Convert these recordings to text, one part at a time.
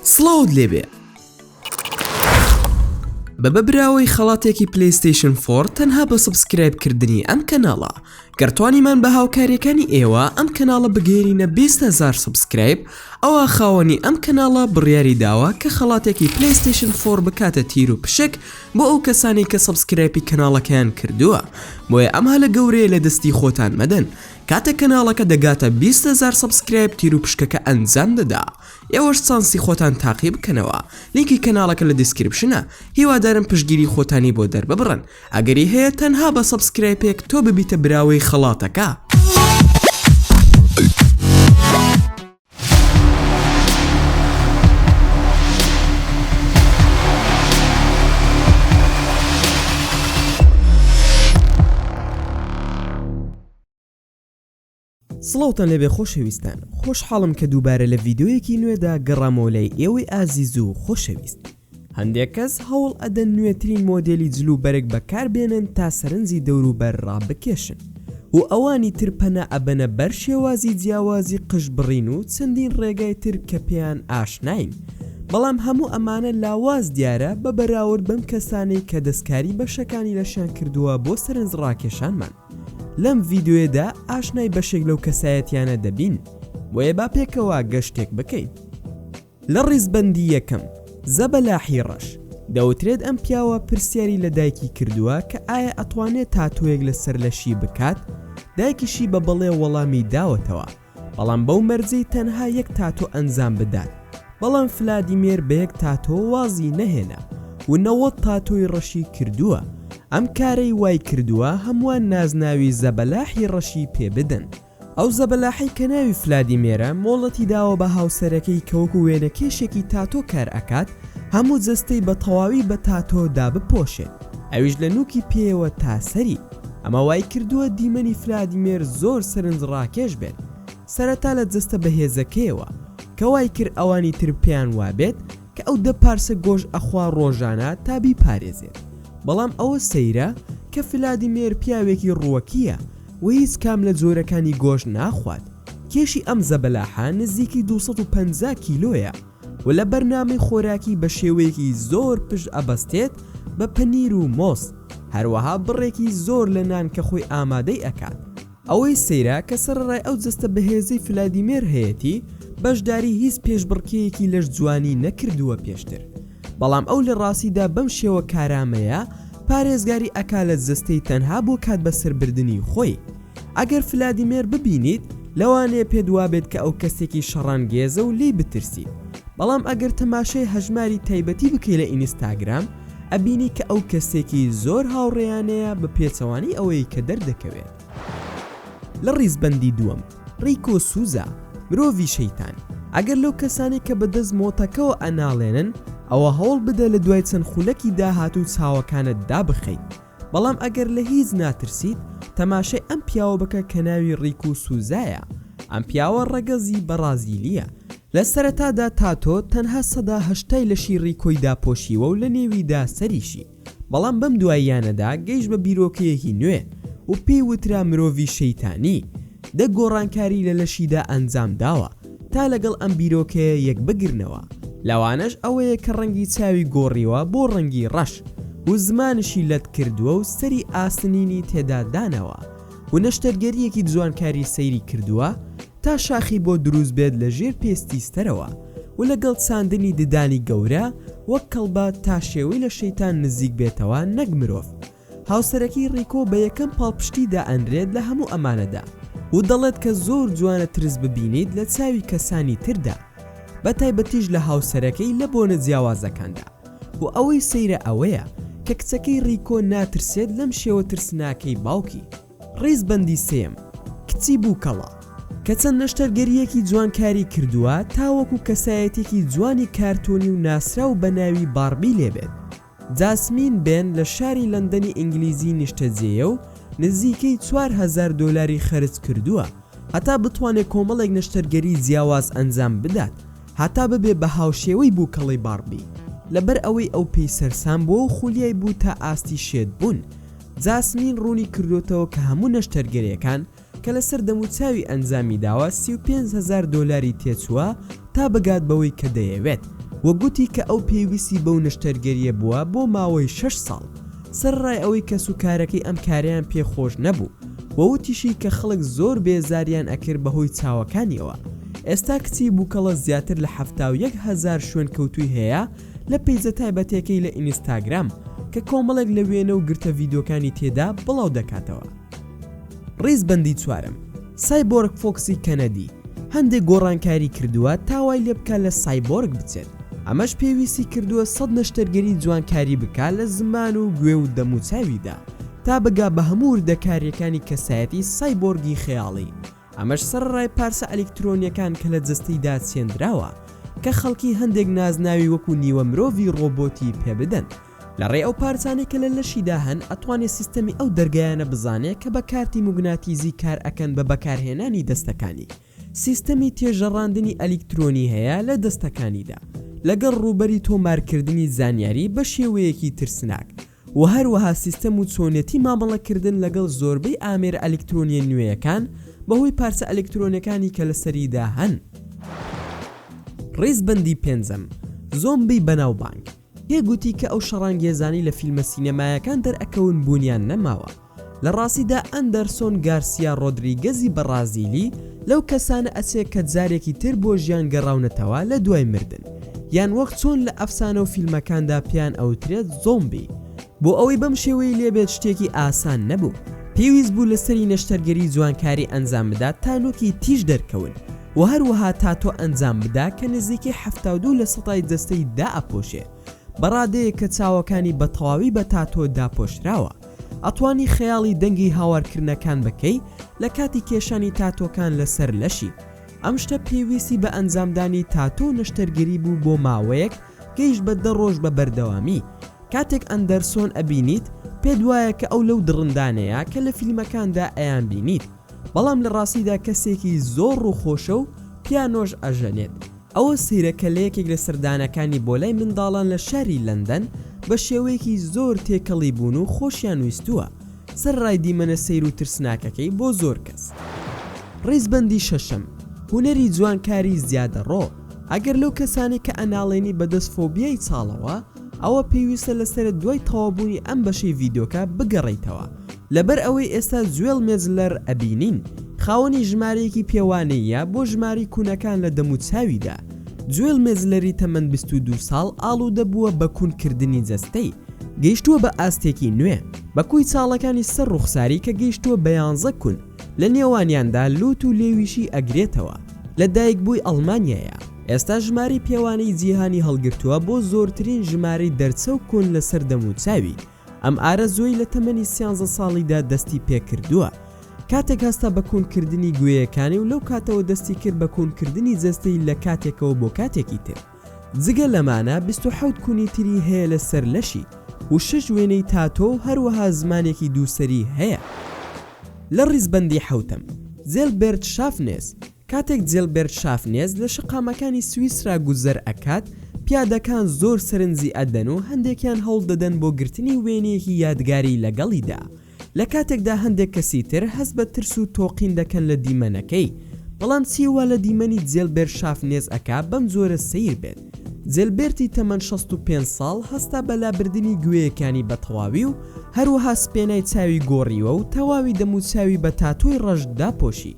سڵاوت لێبێ بە بە براوەی خەڵاتێکی پلیستیشن فۆر تەنها بە سبسکرایب کردنی ئەم کەناڵە گەرتوانیمان بە هاوکاریەکانی ئێوە ئەم کەناڵە بگەێنینە 20هزار سبسکرایب ئەوە خاوەنی ئەم کەناڵە بڕیاری داوە کە خەڵاتێکی پلیستیشن فۆر بکاتە تیر و پشک بۆ ئەو کەسانی کە سبسکرایپی کەناڵەکەیان کردووە بۆیە ئەمها لە گەورەیە لە دەستی خۆتان مەدەن کاتێک کەناڵەکە دەگاتە بیست هەزار سەبسکرایب تیروپشکەکە ئەنجام دەدا ئێوەش چانسی خۆتان تاقی بکەنەوە لینکی کەناڵەکە لە دیسکریپشنە هیوادارم پشتگیری خۆتانی بۆ دەرببڕن ئەگەری هەیە تەنها بە سەبسکرایپێک تۆ ببیتە براوەی خەڵاتەکە. سڵاوتان لەبێ خۆشەویستان خۆشحاڵم کە دووبارە لە ڤیددیویەکی نوێدا گەڕامۆلای ئێوەی ئازیز و خۆشەویست هەندێک کەس هەوڵ ئەدەن نوێترین مۆدێلی جل و بەرگ بەکار بێنن تا سەرنجی دەوروبەر ڕابکێشن و ئەوانی تر پەنا ئەبەنە بەر شێوازی جیاوازی قژ بڕین و چەندین ڕێگای تر کە پێیان ئاشناین بەڵام هەموو ئەمانە لاواز دیارە بە بەراورد بەم کەسانەی کە دەستکاری بەشەکانی لەشیان کردووە بۆ سەرنج ڕاکێشانمان لەم ڤیدیۆیەدا ئاشنای بەشێک لەو کەسایەتیانە دەبین بۆیە با پێکەوە گەشتێک بکەین. لە ڕیزبەندی یەکەم، زەبەلاحی ڕەش، دەوترێت ئەم پیاوە پرسیاری لە دایکی کردووە کە ئایا ئەتوانێت تاتۆیەک لە سەر لەشی بکات، دایکیشی بە بەڵێ وەڵامی داوەتەوە، بەڵام بەو مەرجەی تەنها یەک تاتۆ ئەنجام بدات، بەڵام فلادیمێر بە یەک تاتۆ وازی نەهێنا و نەوەد تاتۆی ڕەشی کردووە، ئەم کارەی وایکردووە هەمووان نازناوی زەبەلاحی ڕەشی پێ بدەن. ئەو زەبەلاحەی کە ناوی فلادیمێرە مۆڵەتی داوە بە هاوسەرەکەی کە وەکو وێنەکێشێکی تاتۆ کار ئەکات هەموو جەستەی بە تەواوی بە تاتۆ دابپۆشێت ئەویش لە نوکی پێیەوە تا سەری ئەمە وایکردووە دیمەنی فلادیمێر زۆر سەرنج ڕاکێش بێت سەرەتا لە جەستە بەهێزەکەیەوە کە وایکرد ئەوانی تر پێیان وابێت کە ئەو دە پارچە گۆش ئەخوا ڕۆژانە تا بیپارێزێت بەڵام ئەوە سەیرە کە فلادیمێر پیاوێکی ڕووەکییە و هیچ کام لە جۆرەکانی گۆشت ناخوات، کێشی ئەم زەبەلاحە نزیکی دوو سەد و پەنجا کیلۆیە و لە بەرنامەی خۆراکی بە شێوەیەکی زۆر پشت ئەبەستێت بە پەنیر و مۆز، هەروەها بڕێکی زۆر لە نان کە خۆی ئامادەی ئەکات. ئەوەی سەیرە کە سەرەڕای ئەو جەستە بەهێزەی فلادیمێر هەیەتی، بەشداری هیچ پێشبڕکێیەکی لەش جوانی نەکردووە پێشتر، بەڵام ئەو لە ڕاستیدا بەم شێوە کارامەیە پارێزگاری ئەکا لە جەستەی تەنها بۆ کات بەسەر بردنی خۆی ئەگەر فلادیمێر ببینیت لەوانەیە پێت وابێت کە ئەو کەسێکی شەڕانگێزە و لێی بترسیت بەڵام ئەگەر تەماشای هەژماری تایبەتی بکەی لە ئینیستاگرام ئەبینی کە ئەو کەسێکی زۆر هاوڕێیانەیە بە پێچەوانەی ئەوەی کە دەردەکەوێت لە ڕیزبەندی دووەم. ڕیکۆ سوزا، مرۆڤی شەیتان، ئەگەر لەو کەسانەی کە بە دەست مۆتەکەوە ئەناڵێنن، ئەوا هەوڵ بدە لە دوای چەند خولەکی داهاتوو چاوەکانت دابخەیت، بەڵام ئەگەر لە هیچ ناترسیت، تەماشای ئەم پیاوە بکە کە ناوی ڕیکۆ سوزایە. ئەم پیاوە ڕەگەزی بەڕازیلییە. لە سەرەتادا تاتۆ تەنها سەدا هەشتای لەشی ڕیکۆی داپۆشیوە و لە نێویدا سەریشی. بەڵام بەم دواییانەدا گەیشت بە بیرۆکەیەکی نوێ و پێی وترا مرۆڤی شەیتانی، دە گۆڕانکاری لە لەشیدا ئەنجام داوە تا لەگەڵ ئەم بیرۆکەیە یەک بگرنەوە، لەوانەش ئەوەیە کە ڕەنگی چاوی گۆڕیوە بۆ ڕەنگی ڕەش و زمانیشی لەت کردووە و سەری ئاسنینی تێدا داناوە و نەشتەرگەرییەکی جوانکاری سەیری کردووە تا شاخی بۆ دروست بێت لە ژێر پێستی سترەوە و لە گەڵ چاندنی ددانی گەورە وەک کەڵبە تا شێوەی لە شەیتان نزیک بێتەوە نەک مرۆڤ هاوسەرەکەی ڕیکۆ بە یەکەم پاڵپشتی دا ئەنرێت لە هەموو ئەمانەدا و دەڵێت کە زۆر جوانە ترس ببینیت لە چاوی کەسانی تردا بە تایبەتیش لە هاوسەرەکەی لە بۆنە جیاوازەکاندا و ئەوەی سەیرە ئەوەیە کە کچەکەی ڕیکۆ ناترسێت لەم شێوە ترسناکەی باوکی. ڕیزبەندی سێیەم، کچی بووکەڵە، کە چەند نەشتەرگەرییەکی جوان کاری کردووە تا وەکو کەسایەتیەکی جوانی کارتۆنی و ناسراو بە ناوی باربی لێ بێت. جاسمین بێن لە شاری لەندەنی ئینگلیزی نیشتەجێیە و نزیکەی چوار هەزار دۆلاری خەرج کردووە هەتا بتوانێت کۆمەڵێک نەشتەرگەری جیاواز ئەنجام بدات هەتا ببێ بە هاوشێوەی بووکەڵەی باربی. لەبەر ئەوەی ئەو پێی سەرسام بووە و خولیای بوو تا ئاستی شێت بوون، جاسمین ڕوونی کردۆتەوە کە هەموو نەشتەرگەریەکان کە لەسەر دەموچاوی ئەنجامی داوە سی و پێنج هەزار دۆلاری تێچووە تا بگات بەوەی کە دەیەوێت وە گوتی کە ئەو پێویستی بەو نەشتەرگەریە بووە بۆ ماوەی شەش ساڵ سەرەڕای ئەوەی کەسوکارەکەی ئەم کارەیان پێ خۆش نەبوو وە وتیشی کە خەڵک زۆر بێزاریان ئەکرد بەهۆی چاوەکانیەوە ئێستا کچی بووکەڵە زیاتر لە حەفتا و یەک هەزار شوێنکەوتووی هەیە لە پەیجە تایبەتەکەی لە ئینستاگرام کە کۆمەڵێک لە وێنە و گرتە ڤیدیۆکانی تێدا بڵاو دەکاتەوە. ڕیزبەندی چوارەم، سایبۆرگ فۆکسی کەنەدی هەندێک گۆڕانکاری کردووە تا وای لێ بکا لە سایبۆرگ بچێت، ئەمەش پێویستی کردووە سەد نەشتەرگەری جوانکاری بکا لە زمان و گوێ و دەموچاویدا تا بگا بە هەموو وردەکارییەکانی کەسایەتی سایبۆرگی خەیاڵی. ئەمەش سەرەڕای پارچە ئەلیکترۆنیەکان کە لە جەستەیدا چێندراوە کە خەڵکی هەندێک نازناوی وەکو نیوە مرۆڤی ڕۆبۆتی پێ بدەن لە ڕێی ئەو پارچانەی کە لە لەشیدا هەن ئەتوانێ سیستەمی ئەو دەرگایانە بزانێ کە بە کارتی موگناتیزی کار ئەکەن بە بەکارهێنانی دەستەکانی سیستەمی تێژەڕاندنی ئەلیکترۆنی هەیە لە دەستەکانیدا لەگەڵ ڕووبەری تۆمارکردنی زانیاری بە شێوەیەکی ترسناک و هەروەها سیستەم و چۆنیەتی مامەڵەکردن لەگەڵ زۆربەی ئامێرە ئەلیکترۆنییە نوێیەکان بەهۆی پارچە ئەلیکترۆنیەکانی کە لەسەریدا هەن. ڕیزبەندی پێنجەم، زۆمبی بەناوبانگ، پێ گوتی کە ئەو شەڕانگێزانەی لە فیلمە سینەمایەکان دەرئەکەون بوونیان نەماوە، لە ڕاستیدا ئەندەرسۆن گارسیا ڕۆدریگەزی بەڕازیلی لەو کەسانە ئەچێ کە جارێکی تر بۆ ژیان گەڕاونەتەوە لە دوای مردن یان وەک چۆن لە ئەفسانە و فیلمەکاندا پێیان ئەوترێت زۆمبی. بۆ ئەوەی بەم شێوەیەی لێ بێت شتێکی ئاسان نەبوو، پێویست بوو لە سەری نەشتەرگەری جوانکاری ئەنجام بدات تا نوکی تیژ دەرکەون و هەروەها تاتۆ ئەنجام بدا کە نزیکەی حەفتا و دوو لە سەتای جەستەی دائەپۆشێ بە ڕادەیەک کە چاوەکانی بە تەواوی بە تاتۆ داپۆشراوە. ئەتوانی خەیاڵی دەنگی هاوارکردنەکان بکەی لە کاتی کێشانی تاتۆکان لەسەر لەشی. ئەم شتە پێویستی بە ئەنجامدانی تاتۆ و نەشتەرگەری بوو بۆ ماوەیەک گەیشت بە دە ڕۆژ بە بەردەوامی. کاتێک ئەندەرسۆن ئەبینیت پێت وایە کە ئەو لەو دڕندانەیە کە لە فیلمەکاندا ئەیانبینیت بەڵام لە ڕاستیدا کەسێکی زۆر ڕووخۆشە و پیانۆش ئەژەنێت. ئەوە سەیرە کە لە یەکێک لە سەردانەکانی بۆ لای منداڵان لە شاری لەندەن بە شێوەیەکی زۆر تێکەڵی بوون و خۆشیان ویستووە، سەرەڕای دیمەنە سەیر و ترسناکەکەی بۆ زۆر کەس. ڕیزبەندی شەشەم، هونەری جوانکاری زیادەڕۆ، ئەگەر لەو کەسانەی کە ئەناڵێنی بەدەست فۆبیای چاڵەوە، ئەوا پێویستە لە سەرە دوای تەوابوونی ئەم بەشەی ڤیدۆکە بگەڕیتەوە لەبەر ئەوەی ئێستا جوێڵ مێجلەر ئەبینین خاوەنی ژمارەیەکی پێوانەییە بۆ ژماری کوونەکان لە دەموچاویدا جوێل مێجلەری تەمەن 22 ساڵ ئاڵوودە بووە بە کوون کردنی جەستەی گەیشتووە بە ئاستێکی نوێ بە کوی چاڵەکانی سەر ڕوخساری کە گەیشتووە بە 11 کون لە نێوانیاندا لوت و لێویشی ئەگرێتەوە لە دایکبووی ئەڵمانیایە. ئێستا ژمارەی پێوانەی جیهانی هەڵگرتووە بۆ زۆرترین ژمارەی دەرچەو کۆن لەسەر دەموچاوی، ئەم ئارەزووەی لە تەمەنی سیانزە ساڵیدا دەستی پێکردووە کاتێک هەستا بە کونکردنی گوێیەکانی و لەو کاتەوە دەستی کرد بە کونکردنی جەستەی لە کاتێکەوە بۆ کاتێکی تر جگە لەمانە بیست و حەوت کونی تری هەیە لەسەر لەشی و شەش وێنەی تاتۆ و هەروەها زمانێکی دووسەری هەیە لە ڕیزبەندی حەوتەم زێلبێرت شافنێس کاتێک جیلبێرت شافنێز لە شەقامەکانی سویسرا گوزەر ئەکات، پیادەکان زۆر سەرنجی ئەدەن و هەندێکیان هەوڵ دەدەن بۆ گرتنی وێنەیەکی یادگاری لەگەڵیدا، لە کاتێکدا هەندێک کەسی تر هەست بە ترس و تۆقین دەکەن لە دیمەنەکەی، بەڵام چی وا لە دیمەنی جیلبێرت شافنێز ئەکا بەم جۆرە سەیر بێت؟ جیلبێرتی تەمەن شەست و پێنج ساڵ هەستا بە لابردنی گوێیەکانی بە تەواوی و هەروەها سپێنای چاوی گۆڕیوە و تەواوی دەموچاوی بە تاتۆی ڕەش داپۆشی،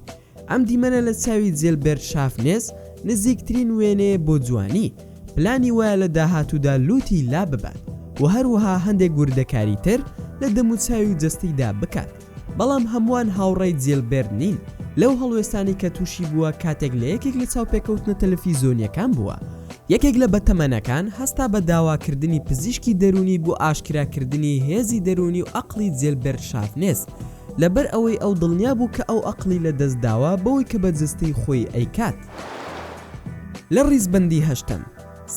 ئەم دیمەنە لە چاوی جێلبێرت شافنێس نزیکترین وێنەیە بۆ جوانی، پلانی وایە لە داهاتوودا لووتی لاببات و هەروەها هەندێک وردەکاری تر لە دەموچاوی و جەستەیدا بکات، بەڵام هەمووان هاوڕای جێلبێرت نین لەو هەڵوێستانەی کە تووشی بووە کاتێک لە یەکێک لە چاوپێکەوتنە تەلەفیزیۆنییەکان بووە. یەکێک لە بەتەمەنەکان هەستا بە داواکردنی پزیشکی دەروونی بۆ ئاشکراکردنی هێزی دەروونی و ئەقڵی جێلبێرت شافنێس، لەبەر ئەوەی ئەو دڵنیا بوو کە ئەو ئەقڵی لە دەست داوە بەوەی کە بە جەستەی خۆی ئەیکات. لە ڕیزبەندی هەشتەم،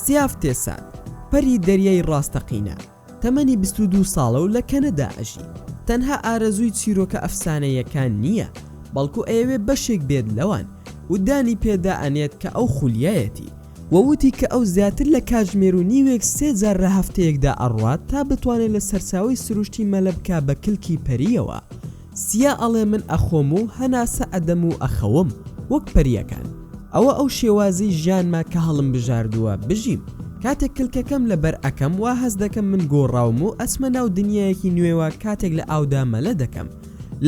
سیاف تێسات، پەری دەریای ڕاستەقینە، تەمەنی بیست و دوو ساڵە و لە کەنەدا ئەژی، تەنها ئارەزووی چیرۆکە ئەفسانەییەکان نییە، بەڵکو ئەیەوێ بەشێک بێت لەوان و دانی پێدا ئەنێت کە ئەو خولیایەتی. و وتی کە ئەو زیاتر لە کاتژمێر و نیوێک سێ جار لە هەفتەیەکدا ئەڕوات تا بتوانێت لە سەرچاوەی سروشتی مەلە بکا بە کلکی پەرییەوە سیا ئەڵێ من ئەخۆم و هەناسە ئەدەم و ئەخەوم وەک پەرییەکان ئەوە ئەو شێوازی ژیانمە کە هەڵمبژاردووە بژیم کاتێک کلکەکەم لەبەر ئەکەم وا هەست دەکەم من گۆڕاوم و ئەچمە ناو دنیایەکی نوێوە کاتێک لە ئاودا مەلە دەکەم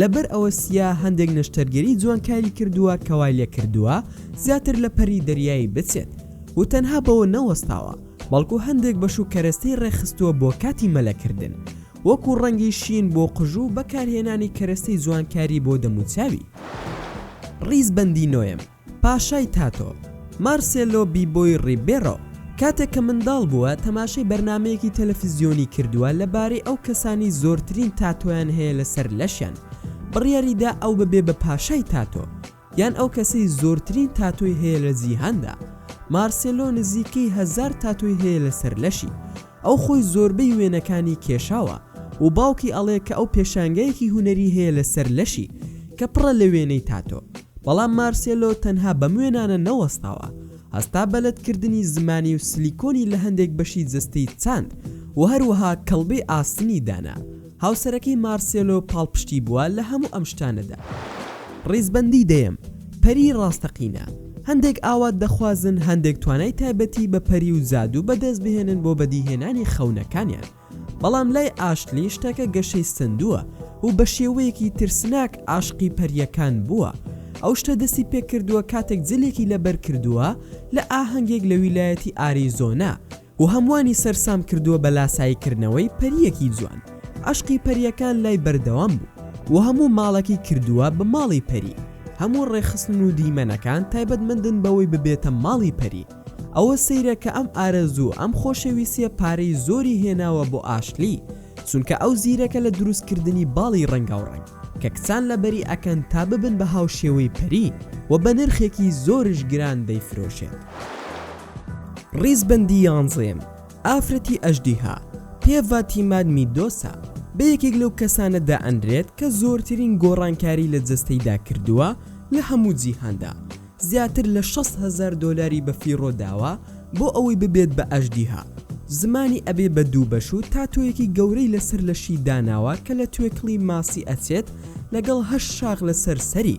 لەبەر ئەوە سیا هەندێک نەشتەرگەری جوانکاری کردووە کە وای لێکردووە زیاتر لە پەری دەریایی بچێت و تەنها بەوە نەوەستاوە بەڵکو هەندێک بەش و کەرەستەی ڕێکخستووە بۆ کاتی مەلەکردن وەکو ڕەنگی شین بۆ قژ و بەکارهێنانی کەرەستەی جوانکاری بۆ دەموچاوی. ڕیزبەندی نۆیەم. پاشای تاتۆ، مارسێلۆ بیبۆی ڕیبێرۆ، کاتێک کە منداڵ بووە، تەماشای بەرنامەیەکی تەلەفزیۆنی کردووە لەبارەی ئەو کەسانەی زۆرترین تاتۆیان هەیە لەسەر لەشیان، بڕیاری دا ئەو ببێ بە پاشای تاتۆ، یان ئەو کەسەی زۆرترین تاتۆی هەیە لە جیهاندا. مارسێلۆ نزیکەی هەزار تاتۆی هەیە لەسەر لەشی. ئەو خۆی زۆربەی وێنەکانی کێشاوە و باوکی ئەڵێ کە ئەو پێشانگایەکی هونەری هەیە لە سەر لەشی کە پڕە لە وێنەی تاتۆ بەڵام مارسێلۆ تەنها بەم وێنانە نەوەستاوە هەستا بەلەد کردنی زمانی و سلیکۆنی لە هەندێک بەشی جەستەی چاند و هەروەها کەڵبەی ئاسنی دانا هاوسەرەکەی مارسێلۆ پاڵپشتی بووە لە هەموو ئەم شتانەدا. ڕیزبەندی دەیەم، پەری ڕاستەقینە. هەندێک ئاوات دەخوازن هەندێک توانای تایبەتی بە پەری و جادوو بەدەست بهێنن بۆ بەدیهێنانی خەونەکانیان، بەڵام لای ئاشلی شتەکە گەشەی سەندووە و بە شێوەیەکی ترسناک عاشقی پەرییەکان بووە. ئەو شتە دەستی پێکردووە کاتێک جلێکی لەبەر کردووە لە ئاهەنگێک لە ویلایەتی ئاریزۆنا، و هەمووانی سەرسام کردووە بە لاسایی کردنەوەی پەرییەکی جوان، عەشقی پەرییەکان لای بەردەوام بوو و هەموو ماڵەکی کردووە بە ماڵی پەری، هەموو ڕێکخستن و دیمەنەکان تایبەتمەندن بەوەی ببێتە ماڵی پەری، ئەوە سەیرە کە ئەم ئارەزوو و ئەم خۆشەویستییە پارەی زۆری هێناوە بۆ ئاشلی، چونکە ئەو زیرەکە لە دروست کردنی باڵی ڕەنگاوڕەنگ کە کچان لەبەری ئەکەن تا ببن بە هاوشێوەی پەری و بە نرخێکی زۆرش گران دەیفرۆشێت. ڕیزبەندی یانزەیەم، ئافرەتی ئەژدیها، پێڤا تیماد میدۆسا، بە یەکێک لەو کەسانە دائەنرێت کە زۆرترین گۆڕانکاری لە جەستەیدا کردووە لە هەموو جیهاندا، زیاتر لە شەست هەزار دۆلاری بە فیڕۆ داوە بۆ ئەوەی ببێت بە ئەژدیها، زمانی ئەبێ بە دوو بەش و تاتۆیەکی گەورەی لەسەر لەشی داناوە کە لە توێکڵی ماسی ئەچێت لەگەڵ هەشت شاخ لەسەر سەری،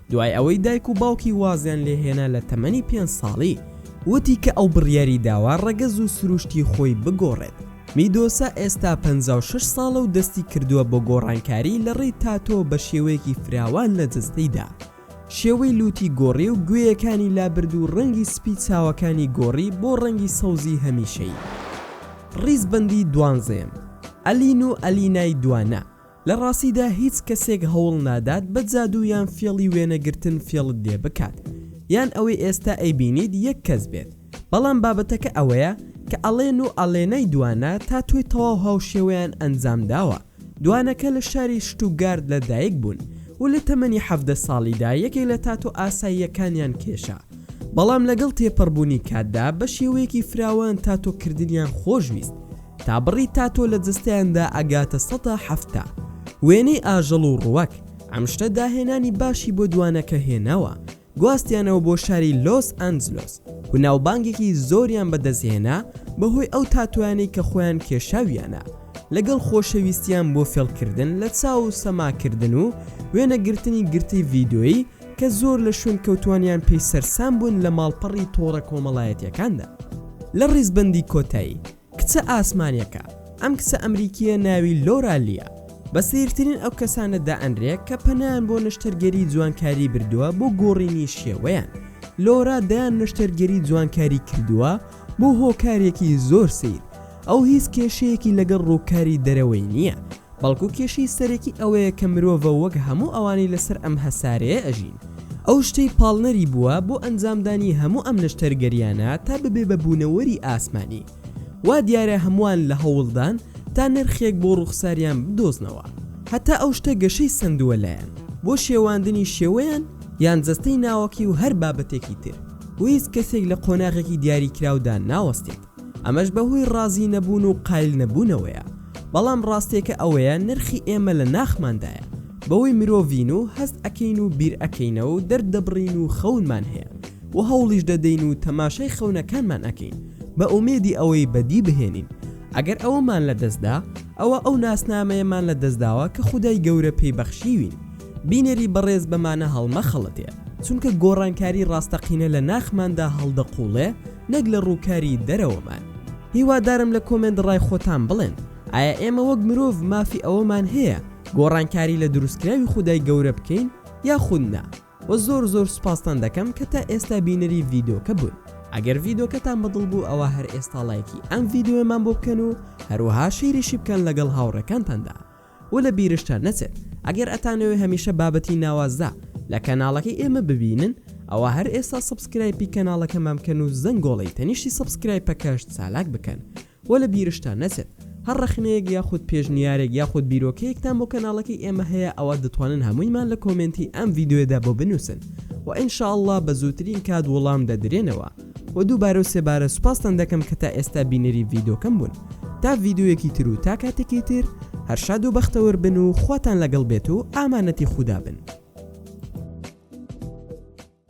دوای ئەوەی دایک و باوکی وازیان لێ هێنا لە تەمەنی پێنج ساڵی، وتی کە ئەو بڕیاری داوە ڕەگەز و سروشتی خۆی بگۆڕێت. میدۆسا ئێستا پەنجا و شەش ساڵە و دەستی کردووە بە گۆڕانکاری لە ڕێی تاتۆ بە شێوەیەکی فراوان لە جەستەیدا. شێوەی لووتی گۆڕی و گوێیەکانی لابرد و ڕەنگی سپی چاوەکانی گۆڕی بۆ ڕەنگی سەوزی هەمیشەیی. ڕیزبەندیی دوانزەیەم، ئەلین و ئەلینای دوانە، لە ڕاستیدا هیچ کەسێک هەوڵ نادات بە جادوو یان فێڵی وێنە گرتن فێڵت لێ بکات یان ئەوەی ئێستا ئەیبینیت یەک کەس بێت بەڵام بابەتەکە ئەوەیە کە ئەڵێن و ئەڵێنای دوانە تاتۆی تەواو هاوشێوەیان ئەنجام داوە دوانەکە لە شاری شتوگارد لە دایک بوون و لە تەمەنی حەڤدە ساڵیدا یەکێک لە تاتۆ ئاساییەکانیان کێشا بەڵام لەگەڵ تێپەڕبوونی کاتدا بە شێوەیەکی فراوان تاتۆ کردنیان خۆش ویست تا بڕی تاتۆ لە جەستەیاندا ئەگاتە سەدا حەفتا. وێنەی ئاژەڵ و ڕووەک، ئەم شتە داهێنانی باشی بۆ دوانەکە هێناوە، گواستیانەوە بۆ شاری لۆس ئەنجلۆس و ناوبانگێکی زۆریان بەدەستهێنا بەهۆی ئەو تاتۆیانەی کە خۆیان کێشاویانە لەگەڵ خۆشەویستیان بۆ فێڵکردن لە چاو و سەماکردن و وێنەگرتنی گرتەی ڤیدۆیی کە زۆر لە شوێنکەوتووانیان پێی سەرسام بوون لە ماڵپەڕی تۆڕە کۆمەڵایەتییەکاندا. لە ڕیزبەندی کۆتایی، کچە ئاسمانییەکە، ئەم کچە ئەمریکییە ناوی لۆرا لییە، بە سەیرترین ئەو کەسانە دائەنرێ کە پەنایان بۆ نەشتەرگەری جوانکاری بردووە بۆ گۆڕینی شێوەیان. لۆرا دەیان نەشتەرگەری جوانکاری کردووە بۆ هۆکارێکی زۆر سەیر، ئەو هیچ کێشەیەکی لەگەڵ ڕووکاری دەرەوەی نییە، بەڵکو کێشەی سەرەکی ئەوەیە کە مرۆڤە وەک هەموو ئەوانەی لەسەر ئەم هەسارەیە ئەژین ئەو شتەی پاڵنەری بووە بۆ ئەنجامدانی هەموو ئەم نەشتەرگەریانە تا ببێ بە بوونەوەری ئاسمانی وا دیارە هەمووان لە هەوڵدان تا نرخێک بۆ ڕووخساریان بدۆزنەوە هەتا ئەو شتە گەشەی سەندووە لایان بۆ شێواندنی شێوەیان یان جەستەی ناوەکی و هەر بابەتێکی تر و هیچ کەسێک لە قۆناغێکی دیاریکراودا ناوەستێت. ئەمەش بەهۆی ڕازی نەبوون و قایل نەبوونەوەیە، بەڵام ڕاستێکە ئەوەیە نرخی ئێمە لە ناخماندایە، بەوەی مرۆڤین و هەست ئەکەین و بیر ئەکەینەوە و دەرد دەبڕین و خەونمان هەیە و هەوڵیش دەدەین و تەماشای خەونەکانمان ئەکەین بە ئومێدی ئەوەی بەدی بهێنین، ئەگەر ئەوەمان لە دەست دا ئەوە ئەو ناسنامەیەمان لە دەست داوە کە خودای گەورە پێی بەخشیوین، بینەری بەڕێز بەمانە هەڵمەخەڵەتێ، چونکە گۆڕانکاری ڕاستەقینە لە ناخماندا هەڵدەقوڵێ، نەک لە ڕووکاری دەرەوەمان. هیوادارم لە کۆمێنت ڕای خۆتان بڵێن ئایا ئێمە وەک مرۆڤ مافی ئەوەمان هەیە گۆڕانکاری لە دروستکراوی خودای گەورە بکەین یاخود نا؟ وە زۆر زۆر سوپاستان دەکەم کە تا ئێستا بینەری ڤیدۆکە بوون. ئەگەر ڤیدۆکەتان بە دڵ بوو ئەوا هەر ئێستا ڵایکی ئەم ڤیدۆیەمان بۆ بکەن و هەروەها شەیریشی بکەن لەگەڵ هاوڕێکانتاندا. و لە بیرشتان نەچێت ئەگەر ئەتانەوێ هەمیشە بابەتی ناوازە لە کەناڵەکەی ئێمە ببینن ئەوا هەر ئێستا سەبسکرایپی کەناڵەکەمان بکەن و زەنگۆڵەی تەنیشتی سەبسکرایپەکەش چالاک بکەن و لە بیرشتان نەچێت هەر ڕەخنەیەک یاخود پێشنیارێک یاخود بیرۆکەیەکتان بۆ کەناڵەکەی ئێمە هەیە ئەوا دەتوانن هەموویمان لە کۆمێنتی ئەم ڤیدیۆیەدا بۆ بنووسن و ان شاء اللە بە زووترین کات وڵام دەدرێنەوە. و دووبارە و سێبارە سوپاستان دەکەم کە تا ئێستا بینەری ڤیدۆکەم بوون تا ڤیدۆیەکی تر و تا کاتێکی تر هەر شاد و بەختەوەر بن و خواتان لەگەڵ بێت و ئامانەتی خودا بن.